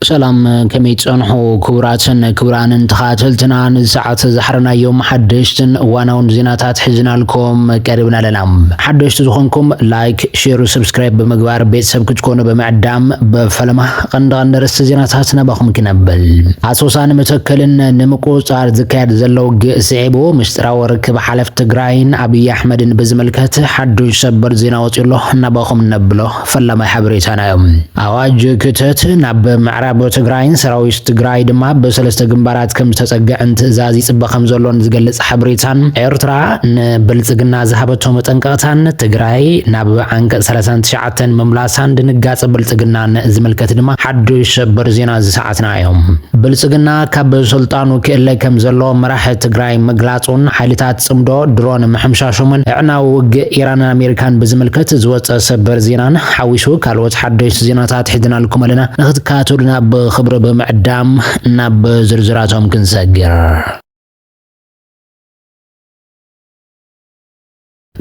ሰላም ከመይ ትጸንሑ ክቡራትን ክቡራንን ተኻተልትና ነዚ ሰዓት ዝሓረናዮም ሓደሽትን እዋናውን ዜናታት ሒዝናልኩም ቀሪብና ኣለና። ሓደሽቲ ዝኾንኩም ላይክ፣ ሼር፣ ሰብስክራይብ ብምግባር ቤተሰብ ክትኮኑ ብምዕዳም ብፈለማ ቀንዲ ቀንዲ ርእስቲ ዜናታት ናባኹም ክነብል። ኣሶሳን መተከልን ንምቁጽጻር ዝካየድ ዘሎ ውግእ ስዒቡ ምስጢራዊ ርክብ ሓለፍቲ ትግራይን ኣብይ ኣሕመድን ብዝምልከት ሓዱሽ ሰበር ዜና ወጺኡ ኣሎ ናባኹም ነብሎ። ፈላማይ ሓበሬታና እዮም። ኣዋጅ ክተት ናብ ምዕራብ ትግራይን ሰራዊት ትግራይ ድማ ኣብ ሰለስተ ግንባራት ከም ዝተጸግዐን ትእዛዝ ይጽበ ከም ዘሎን ዝገልጽ ሓበሬታን ኤርትራ ንብልጽግና ዝሃበቶ መጠንቀቕታን ትግራይ ናብ ዓንቀጽ ሰላሳን ትሽዓተን ምምላሳን ድንጋጸ ብልጽግናን ዝምልከት ድማ ሓዱሽ ሰበር ዜና እዚ ሰዓትና እዮም። ብልጽግና ካብ ስልጣኑ ክእለ ከም ዘሎ መራሒ ትግራይ ምግላጽ ምርጋጹን ሓይልታት ጽምዶ ድሮን ምሕምሻሾምን ኣዕናዊ ውግእ ኢራንን ኣሜሪካን ብዝምልከት ዝወጸ ሰበር ዜናን ሓዊሱ ካልኦት ሓደሽቲ ዜናታት ሒዝናልኩም ኣለና። ንክትከታተሉና ብክብሪ ብምዕዳም ናብ ዝርዝራቶም ክንሰግር።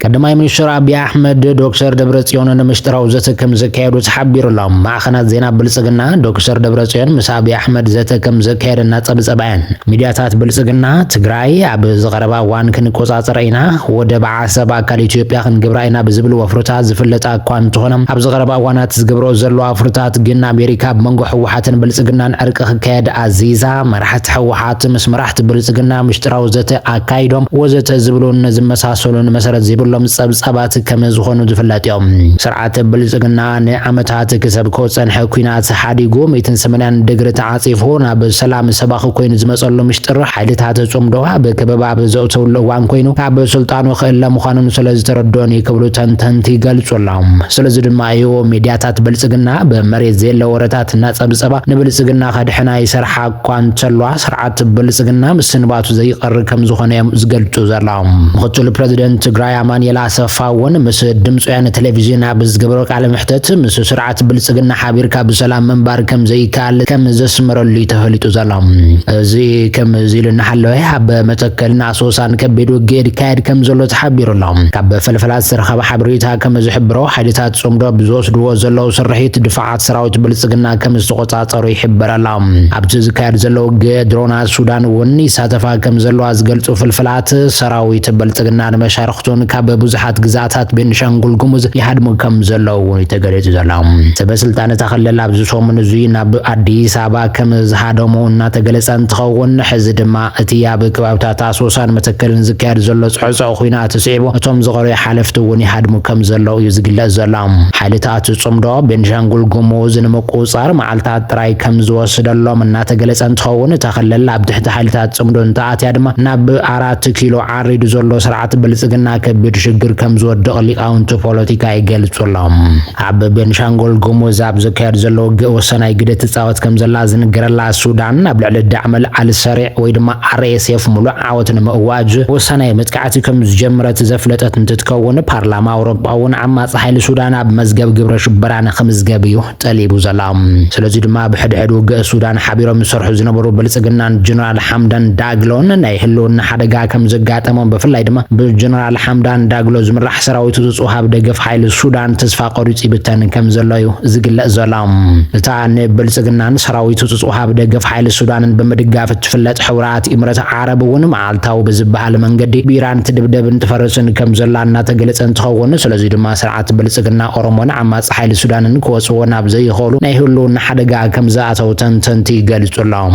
ቀዳማይ ሚኒስትር ኣቢይ ኣሕመድ ዶክተር ደብረጽዮን ንምስጢራዊ ዘተ ከም ዘካየዱ ተሓቢሩ ኣሎ። ማዕኸናት ዜና ብልጽግና ዶክተር ደብረጽዮን ምስ ኣቢይ ኣሕመድ ዘተ ከም ዘካየደ እናጸብጸባ እየን። ሚድያታት ብልጽግና፣ ትግራይ ኣብ ዝቐረባ እዋን ክንቆጻጸራ ኢና፣ ወደብ ዓሰብ ኣካል ኢትዮጵያ ክንገብራ ኢና ብዝብል ወፍርታት ዝፍለጣ እኳ እንተኾና፣ ኣብ ዝቐረባ እዋናት ዝገብረኦ ዘለዋ ወፍርታት ግን ኣሜሪካ ኣብ መንጎ ህወሓትን ብልጽግናን ዕርቂ ክካየድ ኣዚዛ መራሕቲ ስርዓት ምስ መራሕቲ ብልጽግና ምሽጥራዊ ዘተ ኣካይዶም ወዘተ ዝብሉን ዝመሳሰሉን መሰረት ዘይብሎም ጸብጻባት ከም ዝኾኑ ዝፍለጥ ዩ። ስርዓት ብልጽግና ንዓመታት ክሰብኮ ዝጸንሐ ኩናት ሓዲጉ ሚእትን ሰመንያን ድግሪ ተዓጺፉ ናብ ሰላም ሰባኺ ኮይኑ ዝመጸሉ ምሽጥር ሓይልታት ጽምዶ ኣብ ከበባ ኣብ ዘእተውሉ እዋን ኮይኑ ካብ ስልጣኑ ክእለ ምዃኑን ስለ ዝተረድኦን ዩ ክብሉ ተንተንቲ ይገልጹ ኣለው። ስለዚ ድማ ዩ ሚድያታት ብልጽግና ብ መሬት ዘየለ ወረታት እናጸብጸባ ንብልጽግና ከድሕና ይሰርሓ እኳ እንተልዋ ስርዓት ብልፅግና ምስንባቱ ዘይቐሪ ከምዝኾነ እዮም ዝገልፁ ዘለዉ። ምኽትል ፕረዚደንት ትግራይ ኣማኒኤል ኣሰፋ እውን ምስ ድምፂ ወያነ ቴሌቪዥን ኣብ ዝገበሮ ቃለ መሕተት ምስ ስርዓት ብልፅግና ሓቢርካ ብሰላም ምንባር ከምዘይከኣል ከም ዘስመረሉ እዩ ተፈሊጡ ዘሎ። እዚ ከምዚ ኢሉ እናሃለወ ኣብ መተከልን ኣሶሳን ከቢድ ውግእ ይካየድ ከምዘሎ ተሓቢሩ ኣሎ። ካብ ፈልፈላ ዝተረኸበ ሓበሬታ ከምዝሕብሮ ሓይልታት ፅምዶ ኣብ ዝወስድዎ ዘለዉ ስርሒት ድፋዕ፣ ሰራዊት ብልጽግና ከም ዝተቖጻጸሩ ይሕበር ኣሎ። ኣብቲ ዝካየድ ዘሎ ውግእ ድሮናት ሱዳን እውን ይሳተፋ ከም ዘለዋ ዝገልጹ ፍልፍላት፣ ሰራዊት ብልጽግናን መሻርኽቱን ካብ ብዙሓት ግዝኣታት ቤኒሻንጉል ጉሙዝ ይሃድሙ ከም ዘለዉ እውን እዩ ተገሊጹ ዘሎ። ሰበ ስልጣን እታ ክልል ኣብዚ ሰሙን እዙይ ናብ ኣዲስ ኣበባ ከም ዝሃደሙ እናተገለጸ እንትኸውን ሕዚ ድማ እቲ ኣብ ከባብታት ኣሶሳን መተከልን ዝካየድ ዘሎ ጽዕጹዕ ኹናት ስዒቡ እቶም ዝቐረዩ ሓለፍቲ እውን ይሃድሙ ከም ዘለዉ እዩ ዝግለጽ ዘሎ። ሓይልታት ጽምዶ፣ ቤንሻንጉል ጉሙዝ ንምቁጽጻር መዓልታት ጥራይ ከም ዝወስደሎም እናተገለጸ እንትኸውን፣ እታ ክልል ኣብ ትሕቲ ሓይልታት ጽምዶ እንተኣትያ ድማ ናብ ኣራት ኪሎ ዓሪዱ ዘሎ ስርዓት ብልጽግና ከቢድ ሽግር ከም ዝወድቕ ሊቃውንቲ ፖለቲካ ይገልጹ ኣሎም። ኣብ ቤንሻንጎል ጉሙዝ ኣብ ዝካየድ ዘሎ ውግእ ወሳናይ ግደ ትጻወት ከም ዘላ ዝንገረላ ሱዳን ኣብ ልዕሊ ዳዕመል ኣል ሰሪዕ ወይ ድማ RSF ምሉእ ዓወት ንምእዋጅ ወሳናይ መጥቃዕቲ ከም ዝጀመረት ዘፍለጠት እንትትከውን ፓርላማ ኣውሮጳ እውን ዓማጺ ሓይሊ ሱዳን ኣብ መዝገብ ግብረ ሽበራ ንክምዝገብ እዩ ጠሊቡ ዘሎ። ስለዚ ድማ ኣብ ሕድሕድ ውግእ ሱዳን ሓቢሮም ዝሰርሑ ዝነበሩ ብልጽግናን ጀነራል ሓምዳን ዳግሎን ናይ ህልውና ሓደጋ ከም ዘጋጠሞም ብፍላይ ድማ ብጀነራል ሓምዳን ዳግሎ ዝምራሕ ሰራዊት እቱ ጽሃብ ደገፍ ሓይሊ ሱዳን ተስፋ ቆሪጹ ይብተን ከም ዘሎ እዩ ዝግለጽ ዘሎ። እታ ንብልጽግናን ሰራዊት እቱ ጽሃብ ደገፍ ሓይሊ ሱዳንን ብምድጋፍ እትፍለጥ ሕቡራት ኢምረት ዓረብ እውን መዓልታዊ ብዝበሃል መንገዲ ብኢራን ትድብደብን ትፈርስን ከም ዘላ እናተገለጸ እንትኸውን ስለዚ ድማ ስርዓት ሓይልታት ብልጽግና ኦሮሞን ዓማጺ ሓይሊ ሱዳንን ክወጽዎ ናብ ዘይኸእሉ ናይ ህልውና ሓደጋ ከም ዝኣተው ተንተንቲ ይገልጹ ኣለው።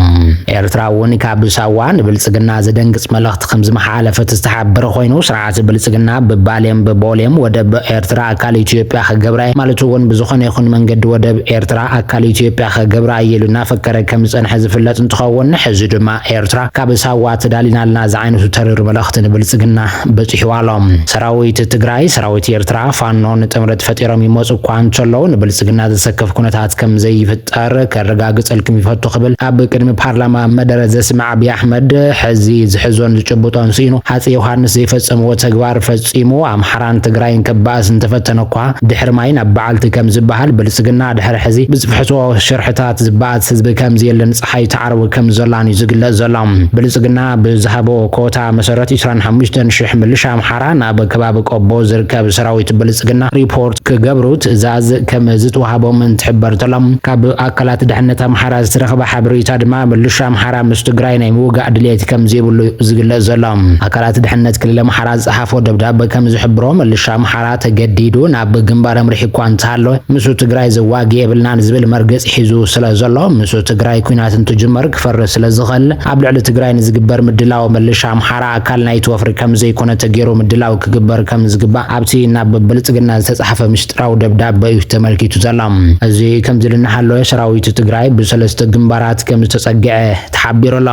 ኤርትራ እውን ካብ ሳዋ ንብልጽግና ዘደንግጽ መልእኽቲ ከም ዝመሓላለፈት ዝተሓበረ ኮይኑ፣ ስርዓት ብልጽግና ብባሌን ብቦሌም ወደብ ኤርትራ ኣካል ኢትዮጵያ ክገብራ'የ ማለቱ እውን ብዝኾነ ይኹን መንገዲ ወደብ ኤርትራ ኣካል ኢትዮጵያ ክገብራ'የ ኢሉ እናፈከረ ከም ዝጸንሐ ዝፍለጥ እንትኸውን ሕዚ ድማ ኤርትራ ካብ ሳዋ ተዳሊናልና ዝዓይነቱ ተሪር መልእኽቲ ንብልጽግና በጺሕዋ ኣሎ። ሰራዊት ትግራይ፣ ሰራዊት ኤርትራ፣ ፋኖን ጥምረት ፈጢሮም ይመጹ እኳ እንተለዉ ንብልጽግና ዘሰክፍ ኩነታት ከም ዘይፍጠር ከረጋግጸልኩም ይፈቱ ክብል ኣብ ቅድሚ ፓርላማ መደረ ዘስምዕ ኣቢይ ኣሕመድ ሕዚ ዝሕዞን ዝጭብጦን ስኢኑ ሃጸይ ዮሃንስ ዘይፈጸምዎ ተግባር ፈጺሙ ኣምሓራን ትግራይን ከባእስ እንተፈተነ እኳ ድሕሪ ማይ ናብ በዓልቲ ከም ዝበሃል ብልጽግና ድሕሪ ሕዚ ብዝፍሕሶ ሽርሕታት ዝበኣስ ህዝቢ ከም ዘየለ ፀሓይ ትዓርብ ከም ዘላን እዩ ዝግለፅ ዘሎ። ብልፅግና ብዝሃቦ ኮታ መሰረት ዕስራን ሓሙሽተን ሽሕ ምልሻ ኣምሓራ ናብ ከባቢ ቆቦ ዝርከብ ሰራዊት ብልፅግና ሪፖርት ክገብሩ ትእዛዝ ከም ዝትወሃቦም እንትሕበር ተሎ። ካብ ኣካላት ድሕነት ኣምሓራ ዝተረኸበ ሓበሬታ ድማ ምልሻ ኣምሓራ ምስ ትግራይ ናይ ምውጋእ ድሌት ከም ዘይብሉ እዩ ዝግለፅ ዘሎ። ኣካላት ድሕነት ክልል ኣምሓራ ዝፀሓፎ ደብዳበ ከም ዝሕብሮ ምልሻ ኣምሓራ ተገዲዱ ናብ ግንባር ኣምሪሑ እኳ እንተሃለወ ምስ ትግራይ ዘዋግእ የብልናን ዝብል መርገፂ ሒዙ ስለዘሎ ምስ ትግራይ ኩናት እንትጅመር ክፈርስ ስለዝኸል ኣብ ልዕሊ ትግራይ ንዝግበር ምድላው ምልሻ ኣምሓራ ኣካል ናይቲ ወፍሪ ከምዘይኮነ ተጌሩ ምድላው ክግበር ከምዝግባእ ኣብቲ ናብ ብልፅግና ዝተፅሓፈ ምሽጥራዊ ደብዳበ እዩ ተመልኪቱ ዘሎ። እዚ ከምዚሉ እናሃለወ ሰራዊት ትግራይ ብሰለስተ ግንባራት ከምዝተፀገዐ ተሓቢሩ ኣሎ።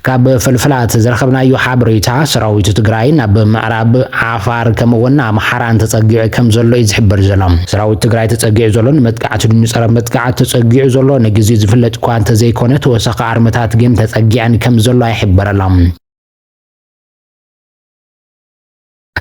ካብ ፍልፍላት ዝረኸብናዮ ሓበሬታ ሰራዊት ትግራይ ናብ ምዕራብ፣ ዓፋር ከምኡ እውን ኣምሓራን ተፀጊዑ ከም ዘሎ እዩ ዝሕበር ዘሎ። ሰራዊት ትግራይ ተፀጊዑ ዘሎ ንመጥቃዕቲ ድዩ ንፀረ መጥቃዕቲ ተፀጊዑ ዘሎ ንግዚኡ ዝፍለጥ እኳ እንተዘይኮነ ተወሳኺ ኣርምታት ግን ተፀጊዐን ከም ዘሎዋ ይሕበረላ።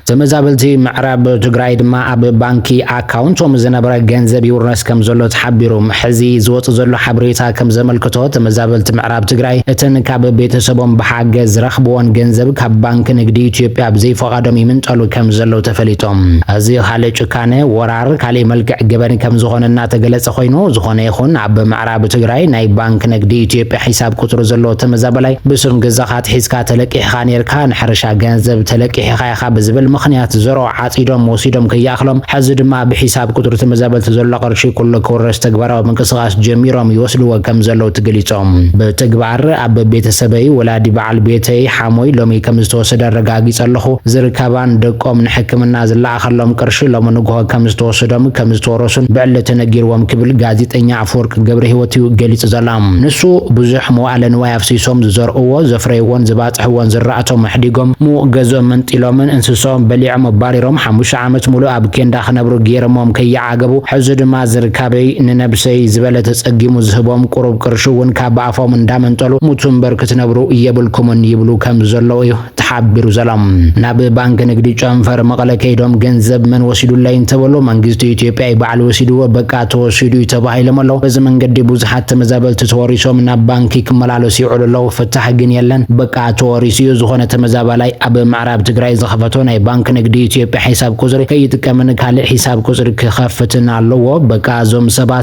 ተመዛበልቲ ምዕራብ ትግራይ ድማ ኣብ ባንኪ ኣካውንቶም ዝነበረ ገንዘብ ይውረስ ከም ዘሎ ተሓቢሩ። ሕዚ ዝወፅ ዘሎ ሓበሬታ ከም ዘመልክቶ ተመዛበልቲ ምዕራብ ትግራይ እተን ካብ ቤተሰቦም ብሓገዝ ዝረኽብዎን ገንዘብ ካብ ባንኪ ንግዲ ኢትዮጵያ ብዘይፋ ፍቓዶም ይምንጠሉ ከም ዘለዉ ተፈሊጡ። እዚ ካልእ ጭካነ፣ ወራር፣ ካሊእ መልክዕ ገበን ከም ዝኾነ እናተገለፀ ኮይኑ፣ ዝኾነ ይኹን ኣብ ምዕራብ ትግራይ ናይ ባንክ ነግዲ ኢትዮጵያ ሒሳብ ቁፅሪ ዘለዎ ተመዛበላይ ብስም ገዛኻ ኣትሒዝካ ተለቂሕኻ ነይርካ፣ ንሕርሻ ገንዘብ ተለቂሕኻ ኢኻ ብዝብል ምኽንያት ዘርኦ ዓፂዶም ወሲዶም ከይኣኽሎም ሐዚ ድማ ብሒሳብ ቁፅሪ ተመዛበልቲ ዘሎ ቅርሺ ኩሉ ክውረስ ተግባራዊ ምንቅስቓስ ጀሚሮም ይወስድዎ ከም ዘለዉ ተገሊፆም። ብተግባር ኣብ ቤተሰበይ ወላዲ በዓል ቤተይ፣ ዓሞይ ሎሚ ከም ዝተወሰደ ኣረጋጊጸ ኣለኹ። ዝርካባን ደቆም ንሕክምና ዝለኣኸሎም ቅርሺ ሎሚ ንግሆ ከም ዝተወሰዶም ከም ዝተወረሱን ብዕሊ ተነጊርዎም ክብል ጋዜጠኛ ኣፈወርቂ ገብረሂወት እዩ ገሊጹ ዘሎ። ንሱ ብዙሕ መዋእለ ንዋይ ኣፍሲሶም ዝዘርኡዎ ዘፍረዩዎን ዘባጽሕዎን ዝራእቶም ኣሕዲጎም ምዉቕ ገዝኦም መንጢሎምን እንስሰኦም በሊዖም ኣባሪሮም ሓሙሽተ ዓመት ሙሉእ ኣብ ኬንዳ ክነብሩ ጌሮሞም ከይዓገቡ ሕዚ ድማ ዝርካበይ ንነብሰይ ዝበለ ተጸጊሙ ዝህቦም ቁሩብ ቅርሺ እዉን ካብ ኣፎም እንዳመንጠሉ ሙቱ እምበር ክትነብሩ የብልኩምን ይብሉ ከም ዘለዉ እዩ ተሓቢሩ ዘሎ። ናብ ባንኪ ንግዲ ጨንፈር መቐለ ከይዶም ገንዘብ መን ወሲዱለይ እንተበሉ መንግስቲ ኢትዮጵያ እዩ ባዕሉ ወሲድዎ በቃ ተወሲዱ እዩ ተባሂሎም ኣሎ። በዚ መንገዲ ብዙሓት ተመዛበልቲ ተወሪሶም ናብ ባንኪ ክመላለሱ ይውዕሉ ኣለዉ ፍታሕ ግን የለን በቃ ተወሪሱ እዩ። ዝኾነ ተመዛባላይ ኣብ ምዕራብ ትግራይ ዝኸፈቶ ናይ ባንኪ ንግዲ ኢትዮጵያ ሒሳብ ቁፅሪ ከይጥቀምን ካሊእ ሒሳብ ቁፅሪ ክኸፍትን ኣለዎ በቃ እዞም ሰባት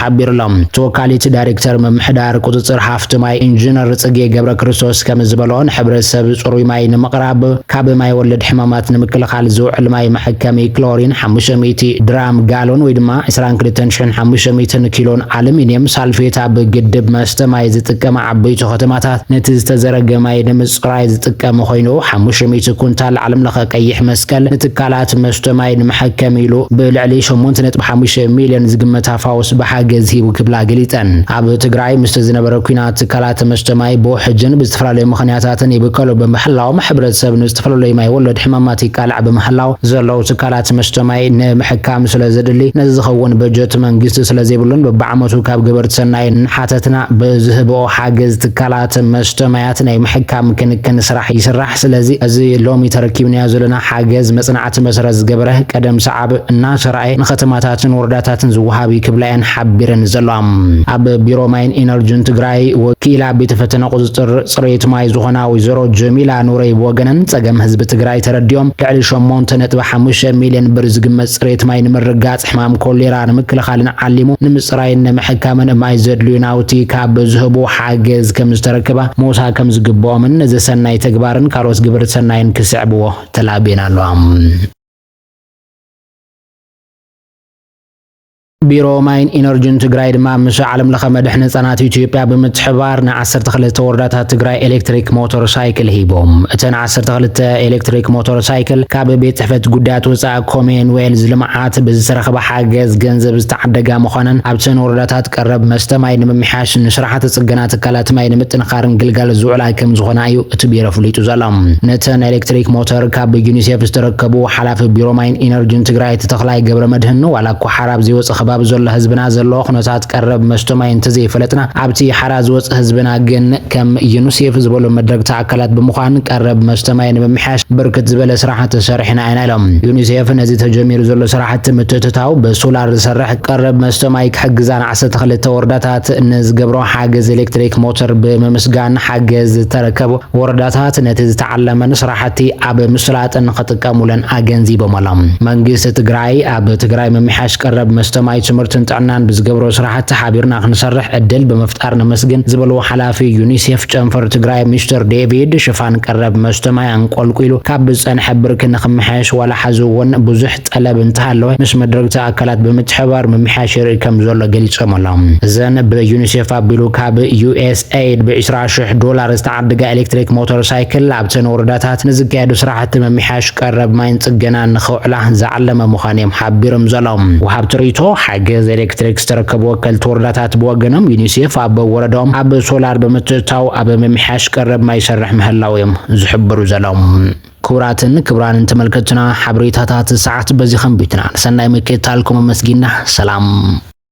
ሓቢሩ'ሎ። ተወካሊት ዳይሬክተር ምምሕዳር ቁፅፅር ሃፍቲ ማይ ኢንጂነር ፅጌ ገብረክርስቶስ ከምዝበልኦ ንሕብረተሰብ ፅሩይ ማይ ንምቕራብ ካብ ማይ ወለድ ሕማማት ንምክልኻል ዝውዕል ማይ መሐከሚ ክሎሪን ሓሙሽተ ሚእቲ ድራም ጋሎን ወይ ድማ ዕስራን ክልተን ሽሕን ሓሙሽተ ሚእትን ኪሎን ኣሉሚኒየም ሳልፌት ኣብ ግድብ መስተ ማይ ዝጥቀማ ዓበይቱ ከተማታት ነቲ ዝተዘረገ ማይ ንምፅራይ ዝጥቀም ኾይኑ ሓሙሽተ ሚእቲ ኩንታል ዓለምለኸ ቀይሕ መስቀል ንትካላት መስተ ማይ ንመሐከሚ ኢሉ ብልዕሊ ሸሞንተ ነጥቢ ሓሙሽተ ሚሊዮን ዝግመት ታፋውስ ብሓገዝ ሂቡ ክብላ ገሊፀን። ኣብ ትግራይ ምስቲ ዝነበረ ኲናት ትካላት መስተ ማይ ብውሕጅን ብዝተፈላለዩ ምኽንያታትን ይብከሉ ብምሕላዎም ሕብረተሰብ ንዝተፈለለዩ ማይ ወለድ ሕማማት ይቃላዕ ብምሕላው ዘለዉ ትካላት መስተ ማይ ንምሕካም ስለዘድሊ ነዚ ዝኸውን በጀት መንግስቲ ስለዘይብሉን በብዓመቱ ካብ ገበርቲ ሰናይ እናሓተትና ብዝህብኦ ሓገዝ ትካላት መስተ ማያት ናይ ምሕካም ክንክን ስራሕ ይስራሕ። ስለዚ እዚ ሎሚ ተረኪብናዮ ዘለና ሓገዝ መፅናዕቲ ኣቲ መሰረት ዝገበረ ቀደም ሰዓብ እናተራእየ ንከተማታትን ወረዳታትን ዝወሃብ እዩ ክብላ እየን ሓቢረን ዘለዋ። ኣብ ቢሮ ማይን ኢነርጅን ትግራይ ወኪላ ቤተ ፈተነ ቁፅፅር ፅሬት ማይ ዝኾና ወይዘሮ ጀሚላ ኑረይ ብወገነን ፀገም ህዝቢ ትግራይ ተረዲኦም ልዕሊ ሸሞንተ ነጥቢ ሓሙሽተ ሚሊየን ብር ዝግመት ፅሬት ማይ ንምርግጋፅ ሕማም ኮሌራ ንምክልኻልን ዓሊሙ ንምፅራይን ንምሕካምን ማይ ዘድልዩ ናውቲ ካብ ዝህቡ ሓገዝ ከምዝተረከባ ሞሳ ከምዝግበኦምን ነዚ ሰናይ ተግባርን ካልኦት ግብርት ሰናይን ክስዕብዎ ተላቤን ኣለዋ። ቢሮ ማይን ኢነርጂን ትግራይ ድማ ምስ ዓለም ለኸ መድሕን ህፃናት ኢትዮጵያ ብምትሕባር ን12 ወረዳታት ትግራይ ኤሌክትሪክ ሞተር ሳይክል ሂቦም። እተን 12 ኤሌክትሪክ ሞተር ሳይክል ካብ ቤት ጽሕፈት ጉዳያት ወፃኢ ኮሜን ዌልዝ ልምዓት ብዝተረኽበ ሓገዝ ገንዘብ ዝተዓደጋ ምዃነን ኣብተን ወረዳታት ቀረብ መስተ ማይ ንምምሕያሽ ንስራሕቲ ጽገና ትካላት ማይ ንምጥንኻር ኣርን ግልጋሎት ዝውዕላ ከም ዝኾና እዩ እቲ ቢሮ ኣፍሊጡ ዘሎ። ነተን ናይ ኤሌክትሪክ ሞተር ካብ ብዩኒሴፍ ዝተረከቡ ሓላፊ ቢሮ ማይን ኢነርጂን ትግራይ ኣይተ ተኽላይ ገብረመድህን ዋላ እኳ ሓራ ኣብ ዘይወፅእ ከባቢ ዘሎ ህዝብና ዘለዎ ኩነታት ቀረብ መስቶ ማይ እንተዘይፈለጥና ኣብቲ ሓራ ዝወፅእ ህዝብና ግን ከም ዩኒሴፍ ዝበሉ መድረግቲ ኣካላት ብምዃን ቀረብ መስተ ማይ ንምምሕያሽ ብርክት ዝበለ ስራሕቲ ሰሪሕና ኢና ኢሎም። ዩኒሴፍ ነዚ ተጀሚሩ ዘሎ ስራሕቲ ምትእትታው ብሶላር ዝሰርሕ ቀረብ መስተ ማይ ክሕግዛ ዓሰርተ ክልተ ወረዳታት ንዝገብሮ ሓገዝ ኤሌክትሪክ ሞተር ብምምስጋን ሓገዝ ዝተረከቡ ወረዳታት ነቲ ዝተዓለመን ስራሕቲ ኣብ ምስላጥን ክጥቀሙለን ኣገንዚቦም ኣሎም። መንግስቲ ትግራይ ኣብ ትግራይ ምምሕያሽ ቀረብ መስተ ማይ፣ ትምህርትን ጥዕናን ብዝገብሮ ስራሕቲ ሓቢርና ክንሰርሕ ዕድል ብምፍጣር ነመስግን ዝበሉ ሓላፊ ዩኒሴፍ ጨንፈር ትግራይ ሚስተር ዴቪድ ሽፋን ቀረብ መስተ ማይ ኣንቆልቊሉ ካብ ዝፀንሐ ብርኪ ንክመሓየሽ ዋላ ሓዚ እውን ብዙሕ ጠለብ እንተሃለወ ምስ መድረግቲ ኣካላት ብምትሕብባር ምምሕያሽ ይርኢ ከምዘሎ ገሊፆም ኣለው። እዘን ብዩኒሴፍ ኣቢሉ ካብ ዩኤስኤይድ ብ ዕስራ ሽሕ ዶላር ዝተዓደጋ ኤሌክትሪክ ሞተር ሳይክል ኣብተን ወረዳታት ንዝካየዱ ስራሕቲ ምምሕያሽ ቀረብ ማይን ፅገናን ንኸውዕላ ዝዓለመ ምዃኑ እዮም ሓቢርም ዘለው ወሃብቲ ሪኢቶ። ሓገዝ ኤሌክትሪክ ዝተረከቡ ወከልቲ ወረዳታት ብወገኖም ዩኒሴፍ ኣብ ወረደኦም ኣብ ሶላር ብምትእትታው ኣብ ምምሕያሽ ቀረብ ማይ ይሰርሕ ምህላው እዮም ዝሕብሩ ዘለው። ክቡራትን ክቡራንን ተመልከትቱና ሓበሬታታት ሰዓት በዚ ከንቢትና ንሰናይ ምክትታልኩም ኣመስጊና ሰላም።